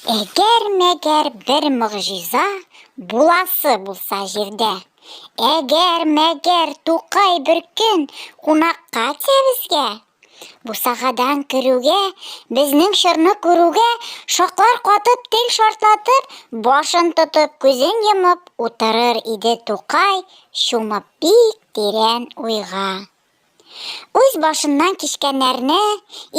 Әгәр-мәгәр бер могҗиза буласы булса җирдә, әгәр-мәгәр Тукай бер көн кунакка килә безгә, бусагадан керүгә, безнең чорны күрүгә, шаклар катып, тел шартлатып, башын тотып, күзен йомып утырыр иде Тукай, чумып бик тирән уйга. Үз башыннан кичкәннәрне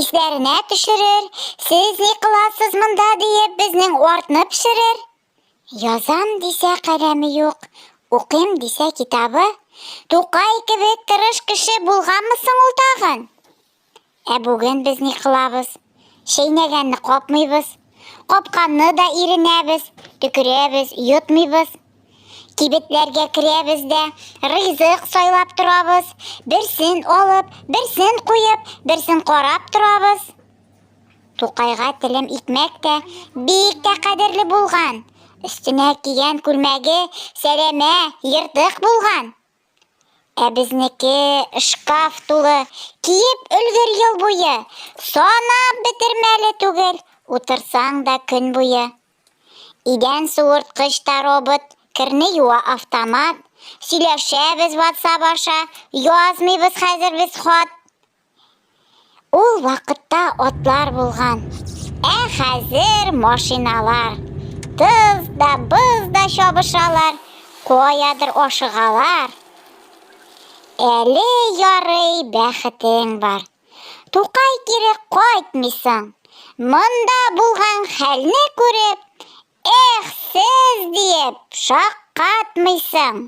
исләренә төшерер, сез ни кыласыз монда диеп безнең артны пешерер. Язам дисә каләме юк, укыйм дисә китабы. Тукай кебек тырыш кеше булганмы соң ул тагын? Ә бүген без ни кылабыз? Чәйнәгәнне капмыйбыз, капканны да иренәбез, төкерәбез, йотмыйбыз. Кибетләргә керәбез дә, ризык сайлап торабыз, берсен алып, берсен куеп, берсен карап торабыз. Тукайга телем икмәк тә бик тә кадерле булган. Өстенә кигән күлмәге сәләмә, ертык булган. Ә безнеке шкаф тулы, киеп өлгер ел буе, санап бетермәле түгел, утырсаң да көн буе. Идән суырткыч та робот, керне юа автомат, сөйләшәбез WhatsApp аша, язмыйбыз хәзер без хат. Ул вакытта атлар булган, ә хәзер машиналар. Тыз да, быз да чабышалар, каядыр ашыгалар. Әле ярый бәхетең бар. Тукай кире кайтмыйсың. Монда булган хәлне күреп, эх, сез диеп шаккатмыйсың.